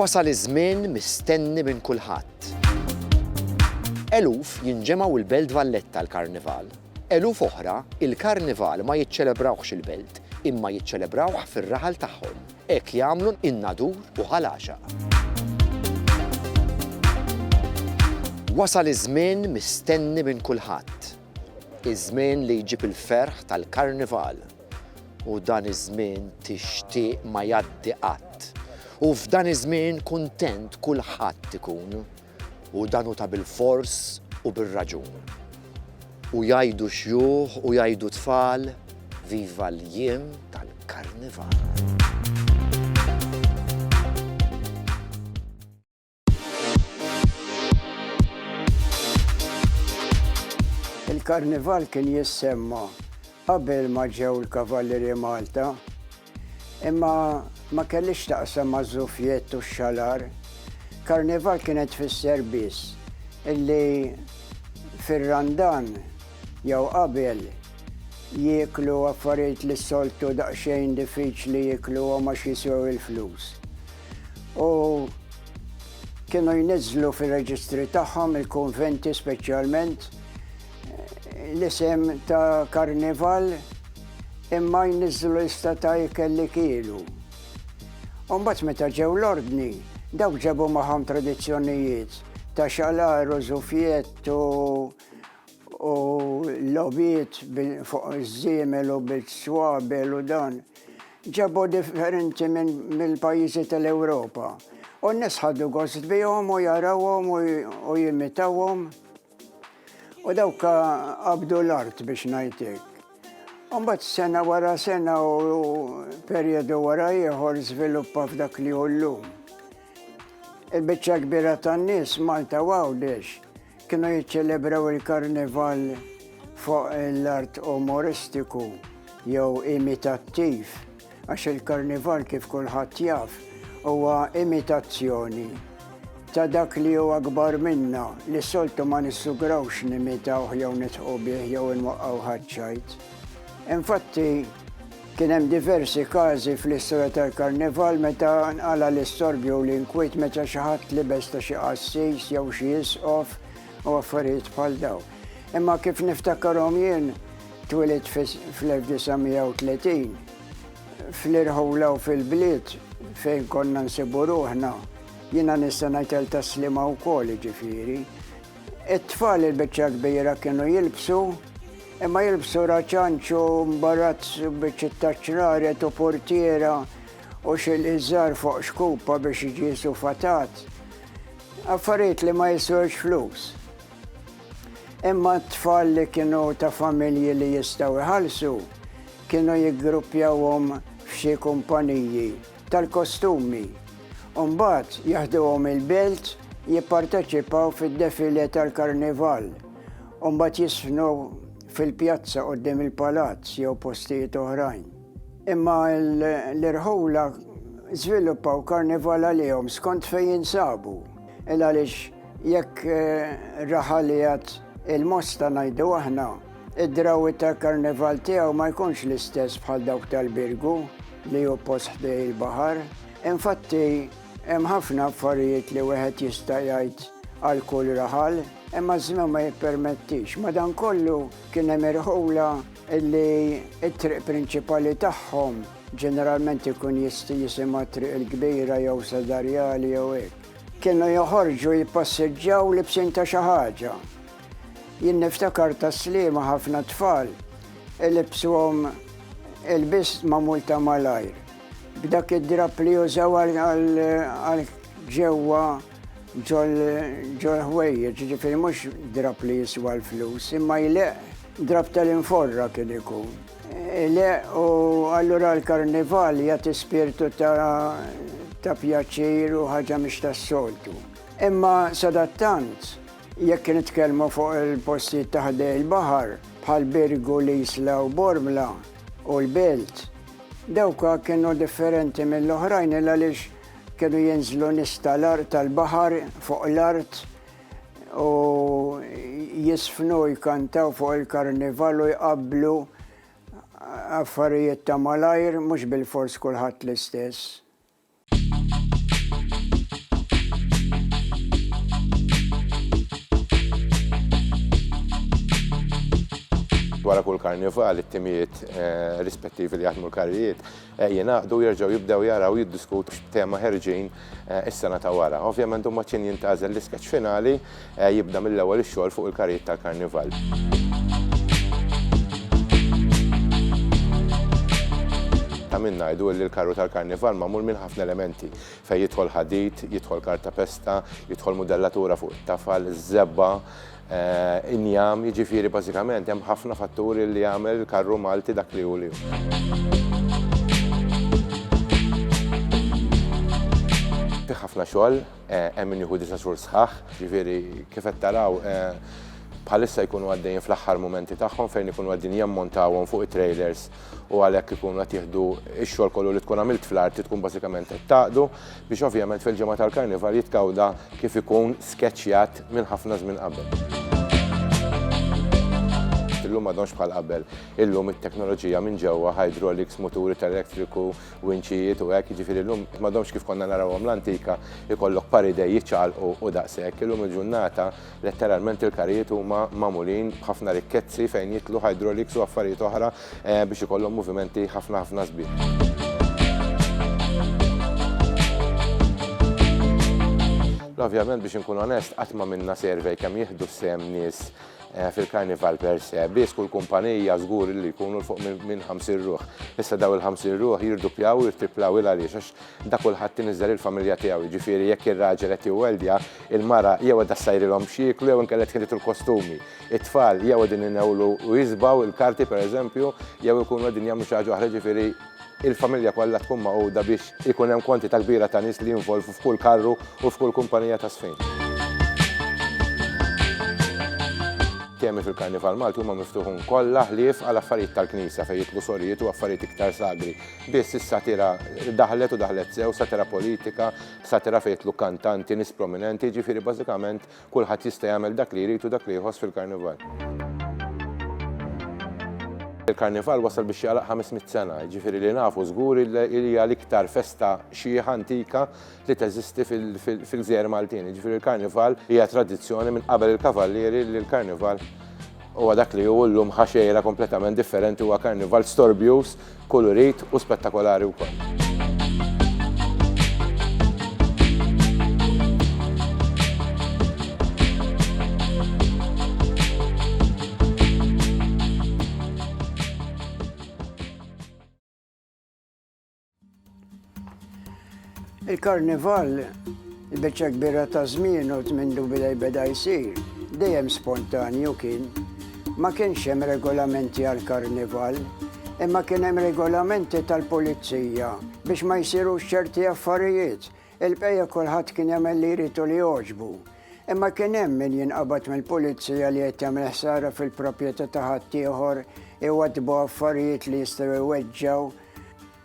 Wasal iż-żmien mistenni minn kulħadd. Eluf jinġemgħu l-Belt Valletta l-Karnival. Eluf oħra il-Karnival ma jiċċelebrawhx il-Belt imma jiċċelebrawh fir-raħal tagħhom. Hekk jagħmlu n-Nadur u Ħal Għaxaq. Wasal iż-żmien mistenni minn kulħadd. Iż-żmien li jġib il-ferħ tal-Karnival. U dan iż-żmien tixtieq ma jgħaddi qatt. U f'dan iż-żmien kuntent kulħadd ikun. U dan hu ta' bilfors u bir-raġun. U jgħidu xjuħ u jgħidu tfal, viva l-jiem tal-Karnival. Il-Karnival kien jissemma qabel ma ġew il-Kavallieri Malta, imma ma kellix taqsam maż-żufjett u x-xalar. Karnival kienet tfisser biss illi fir-Randan jew qabel jieklu affarijiet li s-soltu daqsxejn diffiċli jiekluhom għax jiswew il-flus. u kienu jniżlu fir-reġistri tagħhom il-konventi speċjalment l-isem ta' karnival imma jniżlu lista ta' ikel li kielu. Umbat meta ġew l-ordni, dawk ġebu maħam tradizzjonijiet ta' xalar u zufjett u u l-logħbiet fuq iż-żiemel u bis-swabel u dan, ġabu differenti mill-pajjiżi tal-Ewropa. U n-nies ħadu gost bihom u jarawhom u jimitawhom. U dawk qabdu l-art biex ngħidlek. U mbagħad sena wara sena u perjodu wara ieħor żviluppa f'dak li hu llum. Il-biċċa kbira tan-nies Malta u Għawdex Kienu jiċċelebraw il-karnival fuq l-art umoristiku jew imitattiv, għax il-karnival kif kulħadd jaf huwa imitazzjoni ta' dak li huwa akbar minna li soltu ma nissugrawx nimitawh jew nitħu bih jew inwaqqgħu ħaċċajt. Infatti, Kien hemm diversi każi fl-istorja tal-Karnival meta nqala' l-istorbju u l-inkwiet meta xi ħadd libes ta' xi qassis jew xi isqof u affarijiet bħal dawn. Imma kif niftakarhom jien, twilidt fl-1930, fl-irħula u fil-bliet fejn konna nsibu ruħna, jiena nista' ngħid għal Tas-Sliema wkoll jiġifieri, It-tfal il-biċċa kbira kienu jilbsu, imma jilbsu raċanċ u mbarazz u biċċiet ta' ċraret u purtiera u xi liżar fuq xkupa biex iġiesu fatat. Affarijiet li ma jiswewx flus. Imma t-tfal li kienu ta' familji li jistgħu jħallsu kienu jiggruppjawhom f'xi kumpaniji. tal-kostumi u mbagħad jaħduhom il-belt jipparteċipaw fid-defilé tal-karnival u mbagħad jiżfnu fil-pjazza quddiem il-palazz jew postijiet oħrajn. Imma l-irħula żviluppaw karnival għalihom skont fejn jinsabu. Il għaliex jekk raħalijat il-mosta ngħidu aħna, Id-drawwiet tal-Karnival tiegħu ma jkunx l-istess bħal dawk tal-Birgu li hu post ħdejn il-baħar. Infatti, hemm ħafna affarijiet li wieħed jista' jgħid għal kull raħal, imma ż-żmien ma jippermettix. Madankollu kien hemm irħula li t-triq prinċipali tagħhom ġeneralment ikun jisti jisimha triq il-kbira jew Sadarjali jew hekk. Kienu joħorġu jippassiġġaw libsin ta' xi ħaġa. Jien niftakar tas-Sliema ħafna tfal ilibsuhom ilbies magħmul ta' malajr, b'dak id-drapp li jużaw għal ġewwa ġol-ħwejjeġ, jiġifieri mhux drapp li jiswa l-flus, imma jleqq, drapp tal-inforra kien ikun. Ileqq u allura l-Karnival jagħti spirtu ta' pjaċir u ħaġa mhix tas-soltu. Imma sadattant, Jekk nitkellmu fuq il-postijiet ta' ħdejn il-baħar, bħal Birgu, l-Isla u Bormla u l-Belt, dawk kienu differenti mill-oħrajn il għaliex kienu jinżlu nies tal-art tal-baħar fuq l-art u jisfnu jkantaw fuq il-karnival u jqabblu affarijiet ta' malajr mhux bilfors kulħadd l-istess. Wara kull karnival, it-timijiet eh, rispettivi li jaħdmu l-karrijiet eh, jingħaqdu jerġgħu jibdew jaraw jiddiskutu x'tema ħerġin eh, is-sena ta' wara. Ovvjament huma kien jintażel l-iskeċ finali jibda mill-ewwel ix-xogħol fuq il-karrijiet tal-Karnival. Ta' min ngħidu illi l-karru tal-Karnival magħmul minn ħafna elementi, fejn jidħol ħadid, jidħol kartapesta, jidħol mudellatura fuq it-tafal, żebgħa, injam, jiġifieri bażikament hemm ħafna fatturi li jagħmel il-karru Malti dak li hu li hu. Fih ħafna xogħol, Hemm min jieħu disa' xhur sħaħ, jiġifieri kif qed taraw bħalissa jkunu għaddejjin fl-aħħar mumenti tagħhom fejn ikunu qegħdin jammontawhom fuq it-trejlers u għalhekk ikunu qed jieħdu x-xogħol kollu li tkun għamilt fl-art li tkun bażikament qed tgħaqqdu biex ovvjament fil-ġimgħa tal-Karnival jitkawda kif ikun skeċċjat minn ħafna żmien qabel. Illum m'għadhomx bħal qabel. Illum it-teknoloġija minn ġewwa, hydraulics, muturi tal-elettriku, winċijiet u hekk, jiġifieri llum m'għadhomx kif konna narawhom l-antika ikollok paridej jiċċaqalqu u daqshekk. Illum il-ġurnata letteralment il-karijiet huma magħmulin b'ħafna rikkezzi fejn jitlu hydraulics u affarijiet oħra eh, biex ikollhom movimenti ħafna ħafna sbieħ. Ovvjament biex inkun onest, qatt ma minna survey kemm jieħdu sem nies fil-Karnival per se, biss kull kumpanija żgur illi jkunu 'l fuq minn 50 ruħ. Issa dawn il-50 ruħ jirduppjaw u jirtriplaw, il għaliex? Għax dak kulħadd iniżżel il-familja tiegħu, jiġifieri jekk ir-raġel qed iweldja, il-mara jew qiegħda ssajrilhom x'jieklu jew inkella tħilitu l-kostumi. It-tfal jew qegħdin inewlu u jisbaw il-karti per eżempju, jew ikunu qegħdin jagħmlu xi ħaġa oħra, jiġifieri, il-familja kollha tkun magħquda biex ikun hemm kwantità kbira ta' nies li jinvolvu f'kull karru u f'kull kumpanija ta' żfin. Temi fil-Karnival Malti huma miftuħun kollha ħlief għal affarijiet tal-Knisja fejn jidħlu sorijiet u affarijiet iktar sagri. Biss is-satira daħlet u daħlet sew, satira politika, satira fejn jidħlu kantanti, nies prominenti, jiġifieri bażikament Kulħadd jista' jagħmel dak li jrid u dak li jħoss fil-Karnival. Il-Karnival wasal biex jagħlaq 500 sena, jiġifieri li nafu żgur li hija l-iktar festa xiħa antika li teżisti fil-gżejjer Maltin. Jiġifieri l-Karnival hija tradizzjoni minn qabel il-Kavallieri li l-Karnival Huwa dak li hu llum ħa xejra kompletament differenti huwa karnival storbjuż, kulurit u spettakolari wkoll. Il-karnival, il-beċċa kbira ta' żmien u mindu bidej beda jsir, dejjem spontanju kien. Ma kienx hemm regolamenti għal karnival, imma kien hemm regolamenti tal-pulizija biex ma jsirux ċerti affarijiet Il-bqija kulħadd kien jagħmel li jrid u li jogħġbu. Imma kien hemm min jinqabad mill-pulizija li qed jagħmel ħsara fil-proprjetà ta' ħaddieħor, iwaddbu affarijiet li jistgħu jweġġgħu.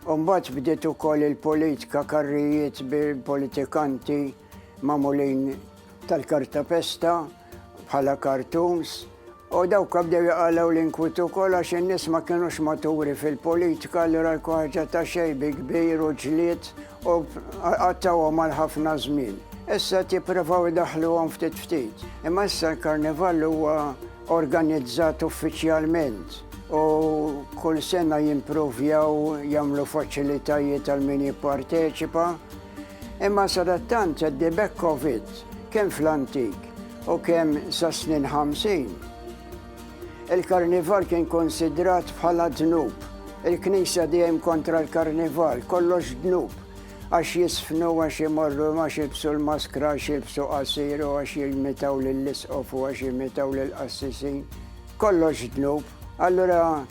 U mbagħad bdiet ukoll il-politika karrijiet bil-politikanti magħmulin tal-kartapesta bħala cartoons U dawk bdew jaqalgħu l-inkwiet ukoll għax in-nies ma kinux maturi fil-politika allura jkun ħaġa ta' xejn bi kbir u ġlied u qattgħuhom għal ħafna żmien. Issa qed jipprovaw idaħħluhom ftit ftit. Imma issa l-Karnival huwa organizzat uffiċjalment u kull sena jimprovjaw jagħmlu faċilitajiet għal min jipparteċipa. Imma sadattant Teddy Beckovitt, kemm fl-antik u kemm sas-snin ħamsin, il-karnival kien konsidrat bħala dnub. Il-Knisja dejjem kontra l-karnival, kollox dnub, għax jiżfnu, għax imorru, għax jilbsu l-maskra, għax jilbsu qasir u għax jimitaw lill-isqof u għax jimitaw lill-qassisin. Kollox dnub. Allura,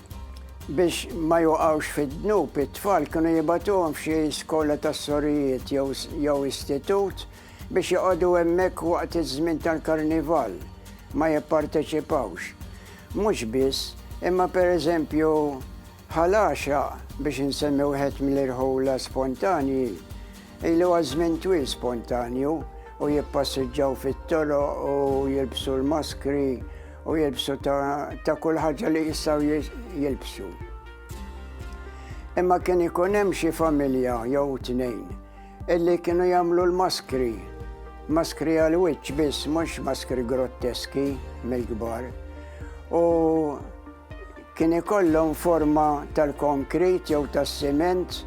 Biex ma joqgħux fid-dnub, it-tfal kienu jibagħtuhom f'xi skola tas-sorijiet jew istitut biex joqogħdu hemmhekk waqt iż-żmien tal-Karnival, ma jipparteċipawx. Mhux biss, imma pereżempju Ħal Għaxaq, biex insemmi wieħed mill-irħula spontanji, Ilu għaż-żmien twil spontanju u jippassiġġaw fit-toroq u jilbsu l-maskri u jilbsu ta' kull ħaġa li jistgħu jilbsu. Imma kien ikun hemm xi familja jew tnejn illi kienu jagħmlu l-maskri, maskri għal wiċċ biss mhux maskri grotteski mill-kbar. U Kien ikollhom forma tal-konkrit jew tas-siment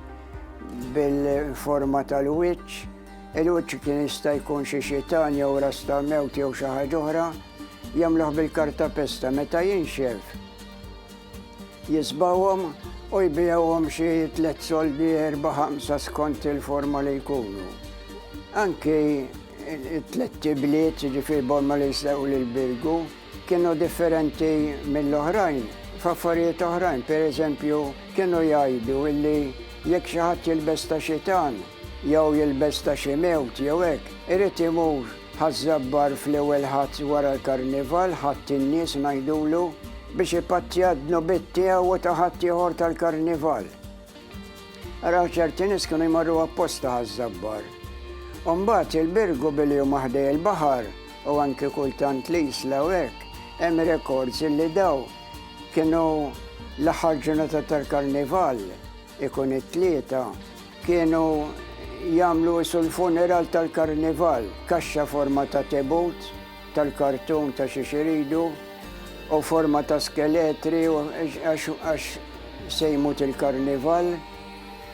bil-forma tal-wiċċ. Il-wiċċ kien jista' jkun xi xitan jew ras ta' mewt jew xi ħaġa oħra. Jagħmluh bil-karta pesta meta jinxef. Jisbawhom u jbijawhom xi tliet soldi erba' ħamsa skont il-forma li jkunu. Anki it-tletti bliet, ġifir borma li jsew l-birgu, Kienu differenti mill-oħrajn f'affarijiet oħrajn, per eżempju, kienu jgħidu li jekk xi ħadd jilbes ta' xitan jew jilbes ta' xi mewt jew hekk, irid imur ħaż-Żabbar fl-ewwel Ħadd wara l-Karnival, Ħadd in-nies ngħidulu, biex ipattja d-dnubiet tiegħu u ta' ħaddieħor tal-Karnival. Araw ċerti nies kienu jmorru apposta ħaż-Żabbar. U mbagħad il-Birgu billi huma ħdej il-baħar, u anki kultant l-Isla u hekk, hemm rekords li dawn kienu l-aħħar ġurnata tal-Karnival, ikun it-Tlieta, kienu jagħmlu isu l-funeral tal-Karnival, kaxxa forma ta' tebut tal-kartun ta' xiex iridu u forma ta' skeletri għax se jmut il-Karnival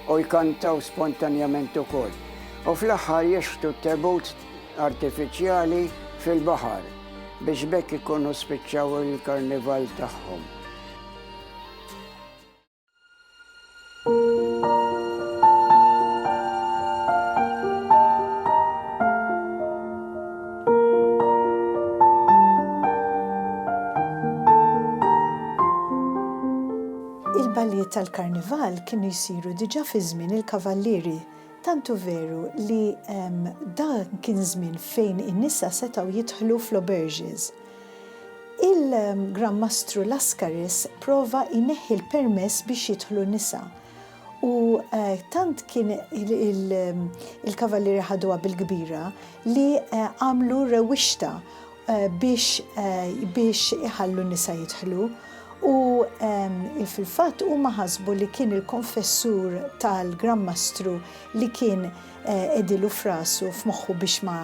u jkantaw spontanjament ukoll. U fl-aħħar jixħtu t-tebut artifiċjali fil-baħar biex b'hekk ikunu spiċċaw il-karnival tagħhom. tal-karnival kienu jsiru diġà fi żmien il-kavallieri Tant hu veru li dan kien żmien fejn in-nisa setgħu jidħlu fl-auberges. Il-Gran Mastru Laskaris prova jneħħi l-permess biex jidħlu n-nisa u tant kien il-Kavallieri ħaduha bil-kbira li għamlu rewwixta biex iħallu n-nisa jidħlu u fil-fatt huma ħasbu li kien il-konfessur tal-Gran Mastru li kien qegħdilu f'rasu f'moħħu biex ma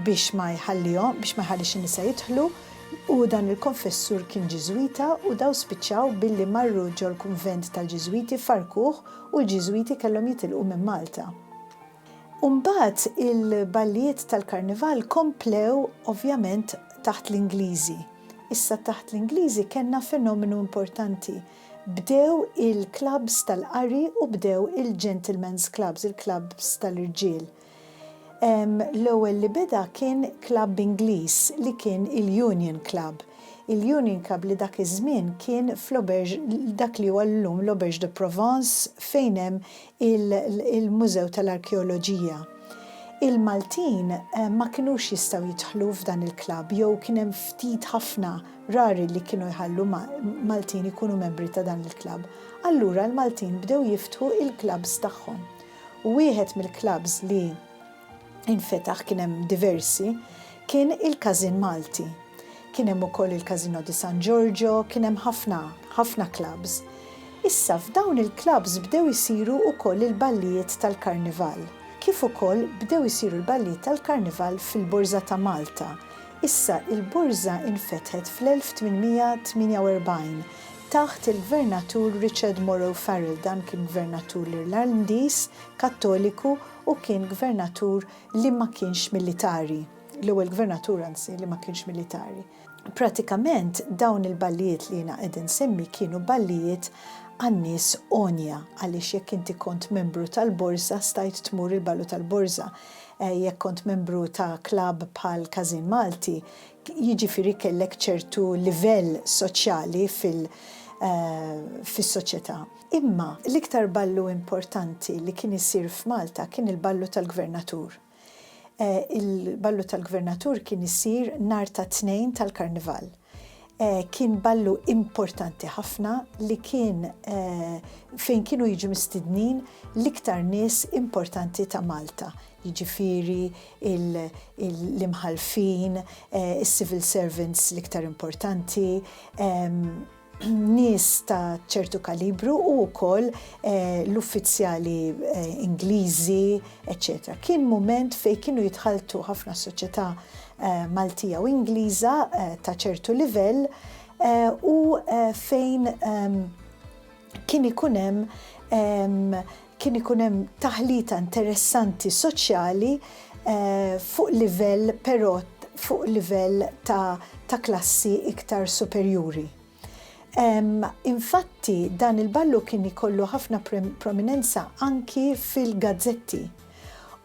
biex ma jħallihom biex ma jħallix in-nisa jidħlu u dan il-konfessur kien Ġiżwita u daw spiċċaw billi marru ġol-kunvent tal-Ġiżwiti farrkuh u l-Ġiżwiti kellhom jitilqu minn Malta. U mbagħad il-ballijiet tal-Karnival komplew ovvjament taħt l-Ingliżi. Issa taħt l-Ingliżi kellna fenomenu importanti. Bdew il-klabbs tal-qari u bdew il-gentlemen's clubs, il-klabbs tal-irġiel. L-ewwel li beda kien klabb Ingliż li kien il-Union Club. Il-Union Club li dak iż-żmien kien fl-Auberge, dak li huwa llum l-Auberge de Provence fejn hemm il-Mużew tal-Arkeoloġija. Il-Maltin ma kinux jistgħu jidħlu f'dan il-klabb jew kien hemm ftit ħafna, rari li kienu jħallu Maltin ikunu membri ta' dan il-klabb. Allura l-Maltin bdew jiftħu il-klabbs tagħhom. U wieħed mill-klabbs li infetaħ kien hemm diversi, kien il-Każin Malti. Kien hemm ukoll il-Casino di San Giorgio, kien hemm ħafna, ħafna clubs. Issa f'dawn il-clubs bdew isiru ukoll il-ballijiet tal-Karnival, kif ukoll bdew isiru l-ballijiet tal-Karnival fil-Borża ta' Malta. Issa il-Borża infetħet fl-1848 taħt il-Gvernatur Richard Morrow Farrell, dan kien Gvernatur l-Irlandiż, Kattoliku Hu kien gvernatur li ma kienx militari, l-ewwel gvernatur anzi li ma kienx militari. Pratikament dawn il-ballijiet li jiena qed insemmi kienu ballijiet għan-nies għonja għaliex jekk inti kont membru tal-borża stajt tmur il-ballu tal-borża, jekk kont membru ta' klabb bħal Każin Malti, jiġifieri kellek ċertu livell soċjali fil, fis-soċjetà. Imma l-iktar ballu importanti li kien isir f'Malta kien il-ballu tal-Gvernatur. Il-ballu tal-Gvernatur kien isir nhar ta' Tnejn tal-Karnival. Kien ballu importanti ħafna li kien fejn kienu jiġu mistidnin l-iktar nies importanti ta' Malta, jiġifieri l-imħallfin, is-civil servants l-iktar importanti, nies ta' ċertu kalibru u wkoll l-uffizzjali Ingliżi, eċċetera. Kien mument fejn kienu jitħalltu ħafna soċjetà Maltija u Ingliża ta' ċertu livell u fejn kien ikun hemm Kien ikun hemm taħlita interessanti soċjali fuq livell però fuq livell ta', ta klassi iktar superjuri. Infatti dan il-ballu kien ikollu ħafna prominenza anki fil-gazzetti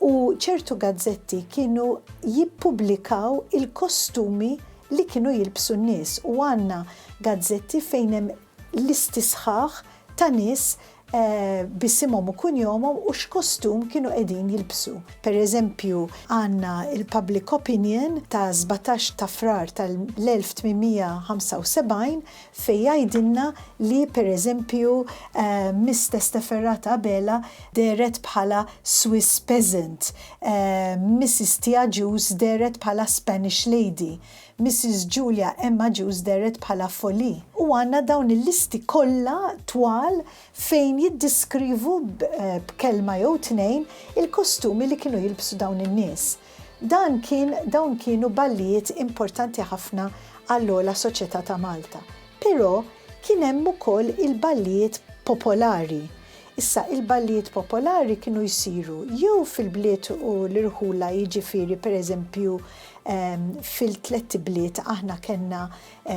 u ċertu gazzetti kienu jippubblikaw il-kostumi li kienu jilbsu n-nies u għandna gazzetti fejn hemm listi sħaħ ta' nies b'isimhom u kunjomhom u x'kostum kienu qegħdin jilbsu. Per eżempju, għandna l-Public Opinion ta' sbatax ta' Frar tal-1875 fejn jgħidilna li per eżempju Miss Testaferrata Abela dehret bħala Swiss Peasant, Missis Tia Ġus dehret bħala Spanish Lady, Missis Julia Emma Juice dehret bħala Folly u għandna dawn il-listi kollha twal fejn jiddiskrivu b'kelma jew tnejn il-kostumi li kienu jilbsu dawn in-nies. Dan kien dawn kienu ballijiet importanti ħafna għall-ogħla soċjetà ta' Malta. Però kien hemm ukoll il-ballijiet popolari Issa, il-ballijiet popolari kienu jsiru jew fil-bliet u l-irħula jiġifieri pereżempju fil-tlett ibliet aħna kellna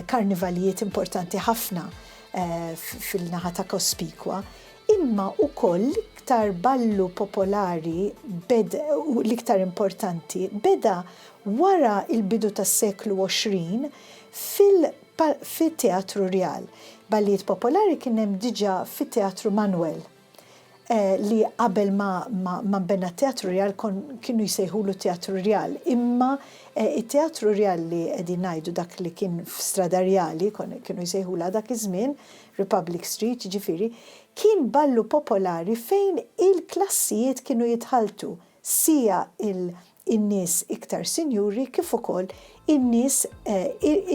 karnivalijiet importanti ħafna fil-naħa ta' Cospicua imma wkoll l-iktar ballu popolari beda u l-iktar importanti beda wara l-bidu tas-seklu 20 fil Bħal fit-Teatru Rjal, ballijiet popolari kien hemm diġà fit-Teatru Manwel, li qabel ma nbena t-Teatru Rjal kienu jsejħulu t-Teatru Rjal. Imma t-Teatru Rjal li qegħdin ngħidu dak li kien f'Strada Rjali, kienu jsejħulha dak iż-żmien, Republic Street jiġifieri, kien ballu popolari fejn il-klassijiet kienu jitħalltu, siegħa in-nies iktar sinjuri kif ukoll in-nies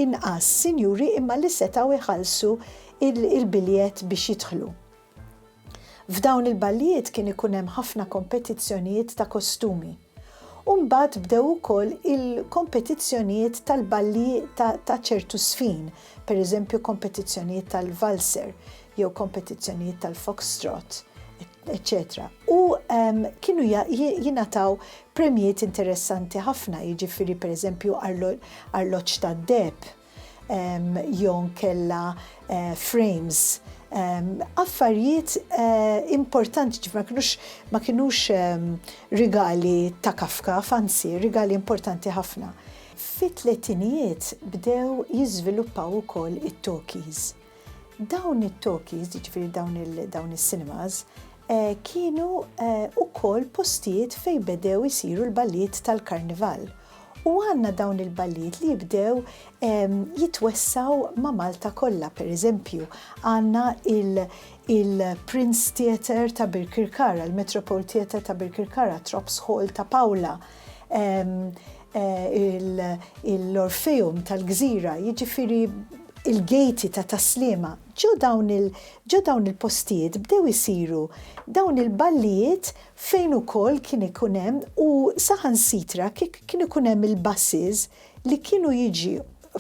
inqas sinjuri imma li setgħu jħallsu l-biljett biex jidħlu. F'dawn il-ballijiet kien ikun hemm ħafna kompetizzjonijiet ta' kostumi. U mbagħad bdew ukoll il-kompetizzjonijiet tal-balli ta' ċertu żfin, pereżempju kompetizzjonijiet tal-valser jew kompetizzjonijiet tal-foxtrot, etc. eċċetera U kienu jingħataw premjiet interessanti ħafna, jiġifieri pereżempju arloġġ tad-deheb jew inkella frames, affarijiet importanti, ġifieri ma kinux rigali ta' kaf kaf, anzi rigali importanti ħafna. Fit-tletinijiet bdew jiżviluppaw ukoll it-talkies. Dawn it-talkies, jiġifieri dawn il, dawn is-cinemas, eh, kienu eh, ukoll postijiet fejn bedew isiru l-ballijiet tal-karnival. U għandna dawn il-ballijiet li jibdew eh, jitwessaw ma' Malta kollha, pereżempju, għandna il- il-Prince Theatre ta' Birkirkara, il-Metropole Theatre ta' Birkirkara, Trops Hall ta' Pawla, l-Orfeum tal-Gżira, jiġifieri l-gejti ta' Tas-Sliema, ġo dawn il-postijiet bdew isiru dawn il-ballijiet fejn ukoll kien ikun hemm u saħansitra kien ikun hemm il-buses li kienu jiġi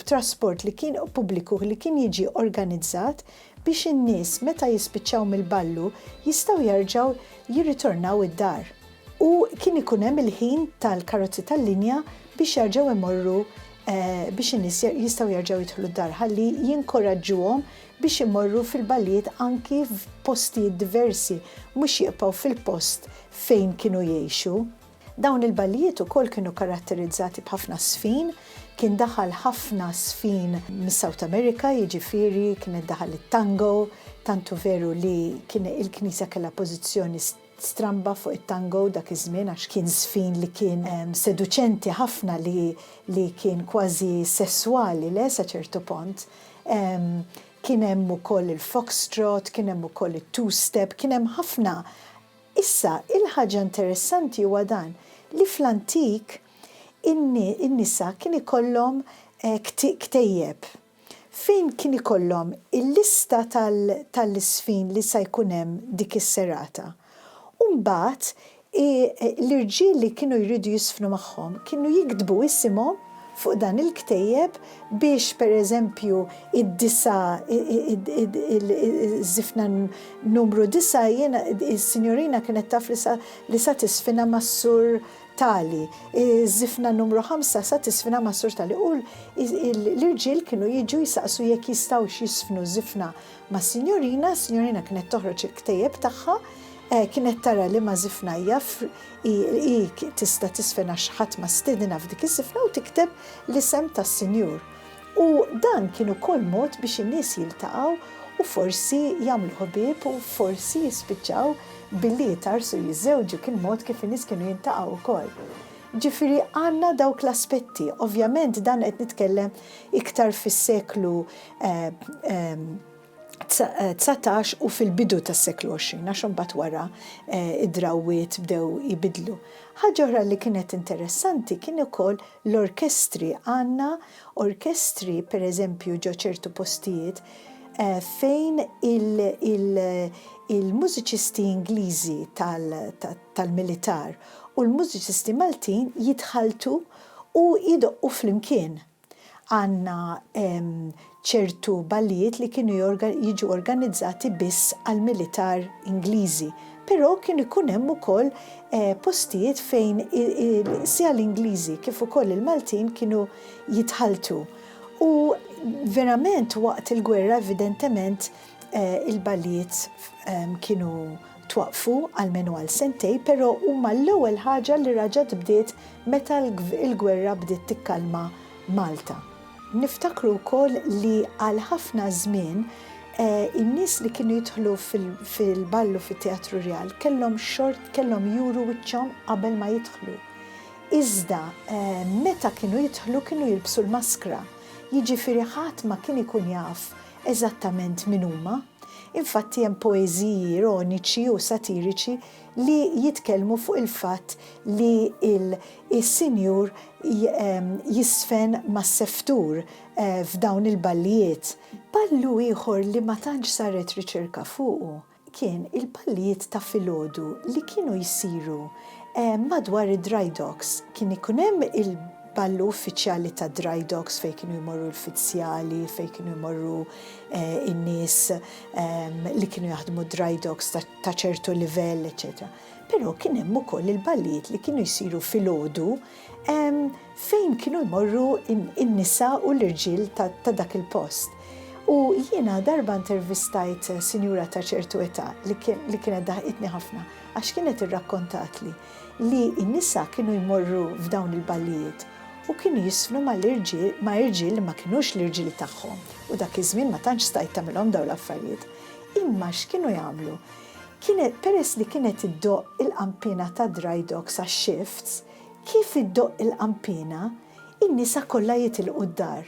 trasport li kien pubbliku li kien jiġi organizzat biex in-nies meta jispiċċaw mill-ballu jistgħu jerġgħu jirritornaw id-dar. u kien ikun hemm il-ħin tal-karozzi tal-linja biex jerġgħu jmorru biex in-nies jistgħu jerġgħu jidħlu d-dar ħalli jinkoraġġuhom biex imorru fil-ballijiet anki f'postijiet diversi mhux jibqgħu fil-post fejn kienu jgħixu. Dawn il-ballijiet ukoll kienu karatterizzati b'ħafna żfin, kien daħal ħafna żfin mis-South America, jiġifieri kien qed daħal it-tango, tantu veru li kien il-Knisja kellha pożizzjoni Stramba fuq it-tango dak iż-żmien għax kien żfin li kien seduċenti ħafna li li kien kważi sesswali le sa ċertu pont. Kien hemm ukoll il-foxtrot, kien hemm ukoll it-two-step, kien hemm ħafna. Issa, il-ħaġa interessanti huwa dan, li fl-antik in-nisa kien ikollhom ktejjeb. Fejn kien ikollhom il-lista tal-isfin li sa jkun hemm dik is-serata. U mbagħad l-irġiel li kienu jridu jisfnu magħhom kienu jiktbu isimhom fuq dan il-ktejjeb biex pereżempju id-disa' iż-żifna numru disa' jiena is-sinjorina kienet taf li sa tisfinha mas-sur Tali, iż-żifna numru ħamsa sa tiżfina ma' Sur Tali u l-irġiel kienu jiġu jsaqsu jekk jistgħux jiżfnu żifna mas-Sinjorina, is-Sinjorina kienet toħroġ il-ktejjeb tagħha, kienet tara liema żifna hija hi tista' tiżfen għax ħadd ma stiedinha f'dik iż-żifna u tikteb l-isem tas-Sinjur. U dan kien ukoll mod biex in-nies jiltaqgħu u forsi jagħmlu ħbieb u forsi jispiċċaw billi jitgħarrsu u jiżżewġu, kien mod kif in-nies kienu jiltaqgħu wkoll. Ġifieri għandna dawk l-aspetti. Ovvjament dan qed nitkellem iktar fis-seklu, 19 u fil-bidu tas-seklu 20, għax imbagħad wara d-drawwiet bdew jibidlu. Ħaġa oħra li kienet interessanti kien ukoll l-orkestri. Għandna orkestri, pereżempju, ġo ċertu postijiet fejn il-mużiċisti Ingliżi tal-militar u l-mużiċisti Maltin jitħalltu u jdoqqu flimkien. Għandna ċertu ballijiet li kienu jiġu organizzati biss għall-militar Ingliżi, però kien ikun hemm ukoll postijiet fejn sia l-Ingliżi kif ukoll il-Maltin kienu jitħalltu. U verament waqt il-gwerra evidentement il-ballijiet kienu Twaqqfu almenu għal sentejn però huma l-ewwel ħaġa li raġgħet bdiet meta l-gwerra bdiet tikkalma Malta. Niftakru wkoll li għal ħafna żmien in-nies li kienu jidħlu fil-ballu fit-Teatru Rjal kellhom xort kellhom juru wiċċhom qabel ma jidħlu. Iżda meta kienu jidħlu kienu jilbsu l-maskra. Jiġifieri ħadd ma kien ikun jaf eżattament min huma. Infatti hemm poeżiji ironiċi u satiriċi li jitkellmu fuq il-fatt li l-sinjur jiżfen mas-seftur f'dawn il-ballijiet. Ballu ieħor li ma tantx saret riċerka fuqu kien il-ballijiet ta' filgħodu li kienu jsiru madwar id-dry docks. Kien ikun hemm il-ballu uffiċjali tad-dry docks fejn kienu jmorru l-fizzjali, fejn kienu jmorru in-nies li kienu jaħdmu dry docks ta' ċertu livell, eċetera. Però kien hemm ukoll il-ballijiet li kienu jsiru filgħodu fejn kienu jmorru in-nisa u l-irġiel ta' dak il-post. U jiena darba intervistajt sinjura ta' ċertu età li kienet daħqitni ħafna għax kienet irrakkontatli li n-nisa kienu jmorru f'dawn il-ballijiet u kienu jiżfnu mal-irġiel, ma' irġiel li ma kinux l-irġiel tagħhom, u dak iż-żmien ma tantx stajt tagħmilhom dawn l-affarijiet. Imma x'kienu jagħmlu? Kienet, peress li kienet iddoqq il-qanpiena tad-dry docks għax-shifts, kif iddoqq il-qanpiena, in-nisa kollha jitilqu d-dar.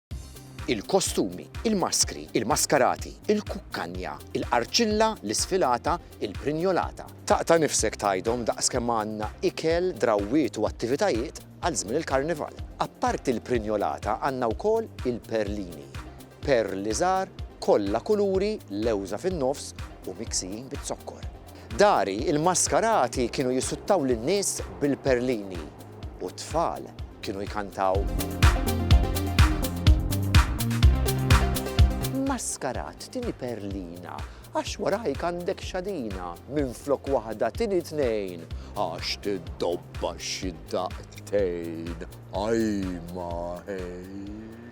il-kostumi, il-maskri, il-maskarati, il-kukkanja, il-qarċilla, l-isfilata, il-prinjolata. Taqta' nifsek tgħidhom daqs kemm għandna ikel, drawwiet u attivitajiet għal żmien il-Karnival. Apparti l-prinjolata għandna wkoll il-perlini. Perli żgħar, kollha kuluri, lewża fin-nofs u miksijin biz-zokkor. Dari, il-maskarati kienu jisuttaw lin-nies bil-perlini u t-tfal kienu jkantaw. Maskarat, tieni perlina, għax warajk għandek xadina, minflok waħda tieni tnejn, għax tiddobba xi daqtejn, ajma ħejn.